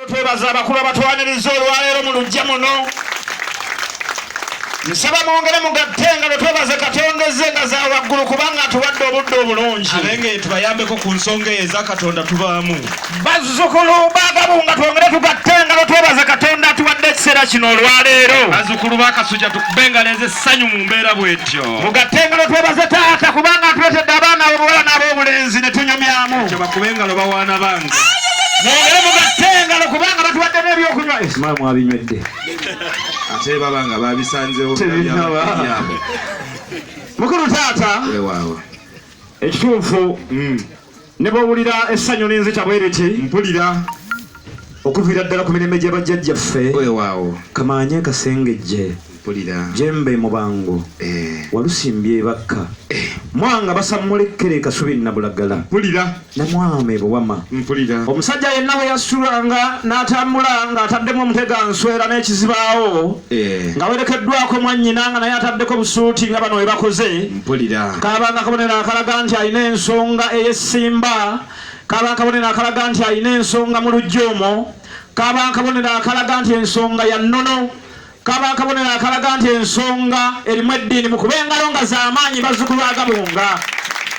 Twebaza abakulu abatwaniriza olwaleero mu lujja muno nsaba mwongere mugatte nga lwe twebaze katonda ezze nga za waggulu kubanga atuwadde obudde obulungi abenge tubayambeko ku nsonga eyo eza katonda tubaamu bazzukulu bagabu nga twongere tugatte nga lwe twebaze katonda atuwadde ekiseera kino olwaleero bazzukulu bakasuja tukubengaleeza essanyu mu mbeera bwetyo mugatte engalo twebaze taata kubanga atuletedde abaana abobuwala n'abobulenzi ne tunyumyamu ekyo bakube engalo bawaana bange mwongere mugatte engalo kubanga batuwadde n'ebyokunywa esima mwabinywedde ate baba nga babisanzewo mukulu taata ekituufu mm. Ne bw'owulira essanyu linzita bwe liti. Mpulira okuviira ddala ku mirembe gya bajjajjaffe. Weewaawo. Kamaanye kasengejje. Mpulira. Jembe mu bango. Eh. Walusimbye ebakka. Eh. Mwanga basammula ekkere kasubi nnabulagala. Mpulira. Ne mwama ebuwama. Mpulira. Omusajja yenna bwe yasitulanga n'atambula ng'ataddemu omutega nswera n'ekizibaawo. Eh. Nga werekeddwako mwannyina nga naye ataddeko busuuti nga bano we bakoze. Mpulira. Kaaba nga kabonero akalaga nti alina ensonga ey'essimba. Kaaba kabonero akalaga nti alina ensonga mu lujja omwo. Kaaba kabonero akalaga nti ensonga ya nnono. Kaaba kabonero akalaga nti ensonga erimu eddiini mu kuba engalo nga z'amaanyi bazzukulu agabunga.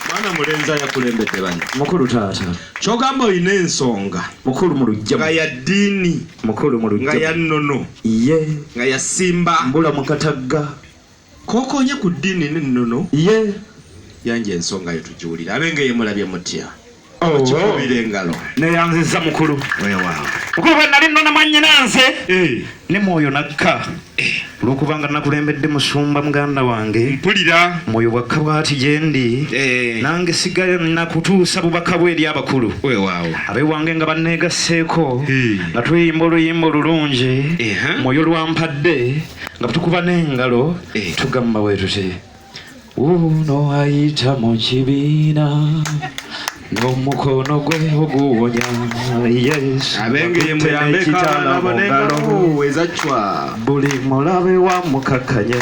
Mwana mulenzi ayakulembedde bano. Mukulu taata. Kyogamba olina ensonga. Mukulu mu lujja. Nga ya ddiini. Mukulu mu lujja. Nga ya nnono. Ye. Nga ya simba. Mbula mu katagga. Kokonye ku ddini n'ennono ye yanja ensonga yo tugiwulire ab'Engeye mulabye mutya? Oh, Bakikubira oh. engalo. Neyanziza mukulu. Weewaawo. Mukulu bwe nali nnona mwannyinaanze eh. ne mwoyo nakka eh. olw'okubanga nakulembedde musumba muganda wange mpulira mwoyo bwakka bwati gye ndi eh. nange sigala nakutuusa bubaka bwe eri abakulu weewaawo abeewange nga banneegasseeko nga tuyimba oluyimba olulungi mwoyo lwampadde nga tukuba n'engalo eh. tugamba bwe tuti uno ayita mu kibiina n'omukono gwe oguwonya abengeye muyambeko abaana bo n'engalo ezacwa buli mulabe wa mukakanye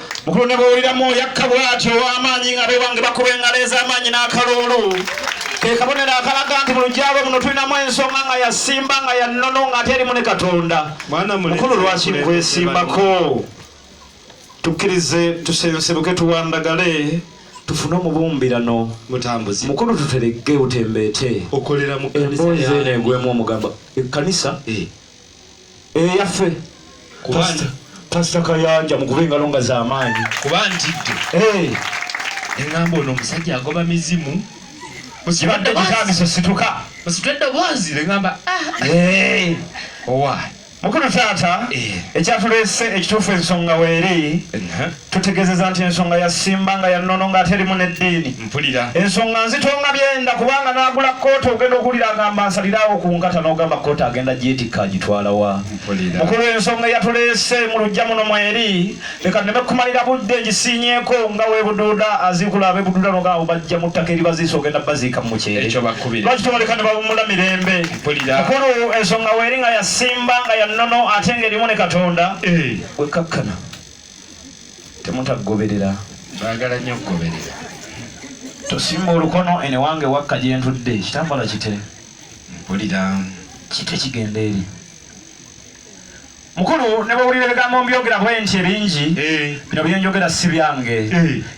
mukulu ne bwowuliramu yakka bwati ow'amaanyi nga bewange bakuba engalo ez'amaanyi n'akaluulu ke kabonero akalaga nti mu lugyalo muno tulinamu ensonga nga yasimba nga yannono nga ate erimu ne katonda mukulu lwaki nkwesimbako tukkirize tusensebuke tuwandagale tufune omubumbirano mutambuzi mukulu tuteregge utembeete okolera mu kanisa emboozi eno egwemu omugamba ekkanisa eh. eyaffe pasita kayanja mukube engalo nga zamaanyi kuba ntidde eh. engamba ono omusajja agoba mizimu kibadde kitandise situka musitwe eddoboozi negamba ah. eh. owa mukulu taata eh. ekyatuleese ekituufu ensonga weeri tutegezeza nti ensonga ya simba nga yanono nga ate erimu neddiini mpulira ensonga nzitonga byenda kubanga nagula kooti ogenda okuwulira agamba nsaliraawo ku nkata nogamba kooti agenda gyetikka agitwalawa mukulu ensonga eyatuleese mu lujja muno mweri leka neme kumalira budde ngisiinyeeko nga webuduuda aziikula abebuduuda nogamba bajja mu ttaka eribaziisa ogenda baziika mu mukyere lwakitwaleka ne bawummula mirembe mukulu ensonga weri nga yasimba nga yanono ate nga erimu ne katonda eh. wekakkana Temutagoberera, baagala nnyo okugoberera. Tosimba olukono eno ewange wakka gye ntudde, kitambala kite. Mpulira. Kite kigenda eri. Mukulu ne bw'owulira ebigambo mbyogera bwenti ebingi, bino bye njogera si byange.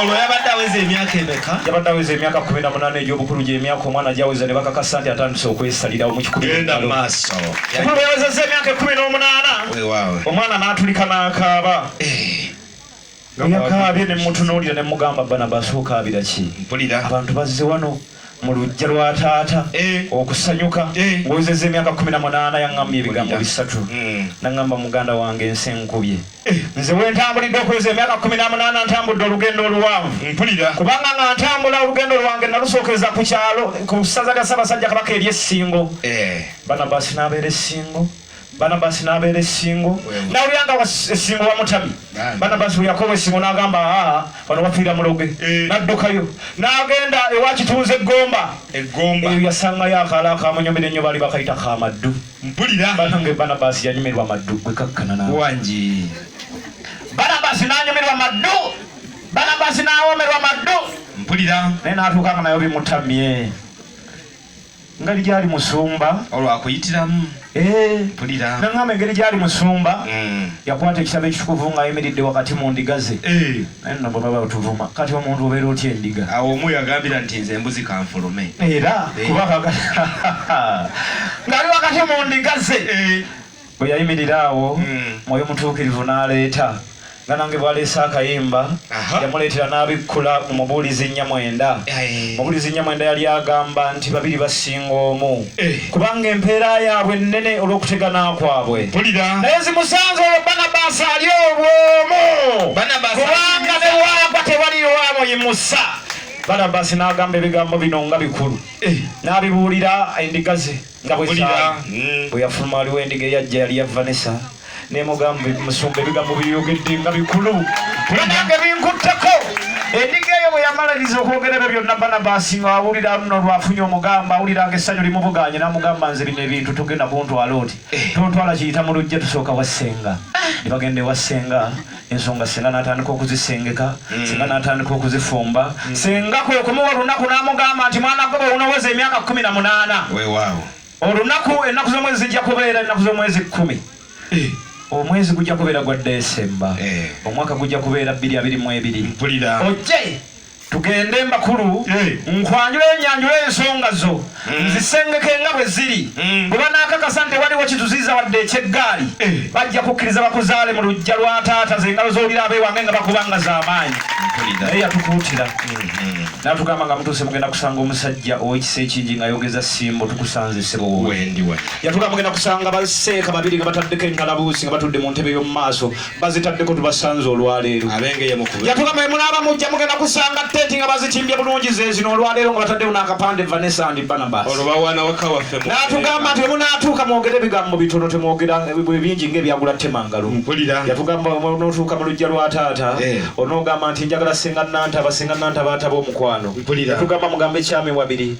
olwo yabadde aweza emyaka emeka yabadde aweza emyaka kumi na munaana egy'obukulu gy'emyaka omwana gyaweza ne bakakasa nti atandise okwesalirawo mu kikugenda mu maaso kuba yawezezza emyaka ekumi n'omunaana omwana n'atulika n'akaaba eh. eyakaabye ne mutunuulira ne mugamba banabasi okaabira ki abantu bazze wano mu lujja lwa taata eh. okusanyuka eh. ng'ozeza emyaka kumi na munaana yaŋŋamba ebigambo bisatu hmm. naŋŋamba muganda wange ensi enkubye eh. nze wentambulidde okuweza emyaka kumi na munaana ntambudde olugendo oluwanvu mpulira kubanga nga ntambula olugendo lwange nalusookeza ku kyalo ku ssaza lya ssabasajja kabaka ery'essingo banabasi n'abeera essingo Barnabas n'abeera essingo n'awulira nga essingo bamutabye. Barnabas bwe yakoba essingo n'agamba aa wano wafiira muloge eh. n'addukayo n'agenda ewa kituuza eggomba eyo yasangayo akaalo akamunyumira ennyo baali bakayita ka maddu mpulira banange Barnabas yanyumirwa maddu gwe kakkana nawangi Barnabas n'anyumirwa maddu Barnabas n'awomerwa maddu mpulira naye n'atuuka nga nayo bimutamye ngeri gyali musumba olwakuyitiramu eh. pulira naŋamba engeri gyali musumba mm. yakwata ekitabo ekitukuvu ng'ayimiridde wakati mu ndiga ze eh. naye nno bwe baba batuvuma kati omuntu obeera otya endiga awo omu yagambira nti nze embuzi kanfulume era eh. kuba ng'ali wakati mu ndiga ze bwe yayimirira awo hmm. mwoyo mutuukirivu n'aleeta nga nange bwaleese akayimba yamuleetera n'abikkula mu mubuulizi nyamwenda mubuulizi nyamwenda yali agamba nti babiri basinga omu eh. kubanga empeera yaabwe nnene olw'okutegana kwabwe naye zimusanze olwo banabasi ali obwomu kubanga newaagwa tewaliyo amuyimusa banabasi n'agamba ebigambo bino nga bikulu eh. n'abibuulira endiga ze nga bwe hmm. yafuluma waliwo endiga eyajja yali ya vanessa nemugamba musumba ebigambo byeyogedde nga bikulu nange binkutteko endiga eyo bwe yamaliriza okwogera ebyo byonna banabasi nga awulira luno lwafunye omugamba awulira nga essanyu limubuganye namugamba nze bino ebintu tugenda kuntwala oti eh. tontwala kiyita mu lujja tusooka wassenga ne bagenda ewa ssenga ensonga singa natandika okuzisengeka mm. singa natandika okuzifumba mm. singa kwekumuwa olunaku namugamba nti mwana gwe bwewunoweza emyaka kumi na munaana olunaku ennaku z'omwezi zijja kubeera ennaku z'omwezi kkumi eh. omwezi gujja kubeera gwa desemba eh. omwaka gujja kubeera bbiri abiri mu ebiri ojje tugende embakulu nkwanjula enyanjula ensonga zo mm. nzisengeke nga bwe ziri mm. bwe banaakakasa nti waliwo kituziiza wadde ekyeggaali eh. bajja kukkiriza bakuzaale mu lujja lwa taata zengalo z'olira abeewange nga bakubanga z'amaanyi naye yatukuutira mm-hmm. natugamba nga mutuuse mugenda kusanga omusajja ow'ekisa ekingi nga yogeza simbo tukusanze ssebo yatugamba mugenda kusanga baseeka babiri nga bataddeko engalabuusi nga batudde mu ntebe y'omu maaso bazitaddeko tubasanze olwaleero yatugamba emunaaba mujja mugenda kusanga tenti nga bazitimbye bulungi zezino olwaleero nga bataddewo n'akapande vanessa and banabasnatugamba nti emunaatuuka mwogere ebigambo bitono temwogera bingi ngaebyagula temangalo yatugamba onootuuka mu lujja lwa taata eh. onoogamba nti njagala senga nantaba senga nantaba ataba omukwano yatugamba mugamba ekyama ewabiri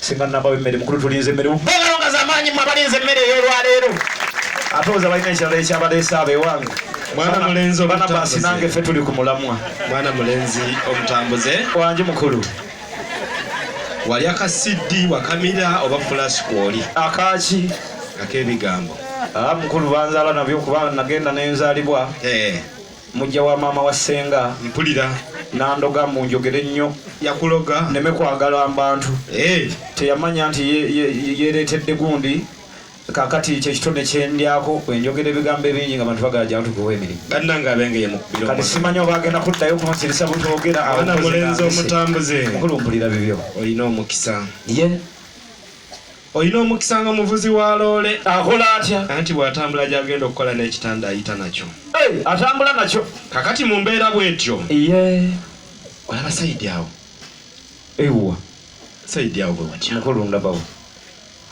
Singa nabawe mmere mukulu tulinze emmere mbeerawo nga zamaanyi mwe abalinze emmere ey'olwaleero ate oza balina ekirala ekyabaleese abo ewange mwana mulenzi omutambuze nange ffe tuli ku mulamwa mwana mulenzi omutambuze wangi mukulu wali aka cd wakamira oba fulash kwoli akaki ak'ebigambo ah, mukulu banzaala nabyo kuba nagenda nenzalibwa eh. Mujja wa maama wa senga. Mpulira. Nandoga mbu njogere nnyo. Yakuloga. Neme kwagala mbantu. Hey. Eh. Teyamanya nti yeretedde gundi. Kakati kye kitone kyendyako enjogera ebigambo ebingi nga bantu bagala jantu kuwa emirimu bannange abengeye mu kubira kati simanyi oba agenda kuddayo kunsirisa butwogera abana mulenzi omutambuze mukulumbulira bibyo olina omukisa ye yeah. Olina omukisa nga muvuzi wa loole. Akola atya? Anti bw'atambula gy'agenda okukola n'ekitanda ayita nakyo. Hey, atambula nakyo. Kakati mu mbeera bw'etyo. Iye. Olaba sayidi awo. Ewuwa. Sayidi awo bwe watya. Mukulu ndabawo.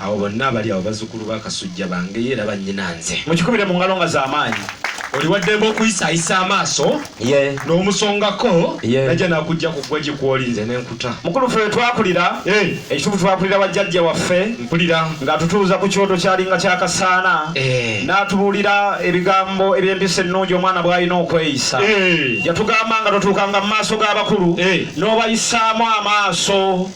Awo bonna abali awo bazzukulu ba Kasujja bange era bannyina nze. Mukikubire mu ngalo nga z'amaanyi. Oli wa ddembe okuyisaayisa amaaso. ye n'omusongako ye najja nakujja ku ggwe gikwoli nze nenkuta mukulu ffe twakulira eh. ekituufu twakulira wa jjajja waffe mpulira ng'atutuuza ku kyoto kyalinga kyakasaana eh. n'atubuulira ebigambo eby'empisa ennungi omwana bw'alina okweyisa eh. yatugamba nga totuukanga mu maaso g'abakulu n'obayisaamu amaaso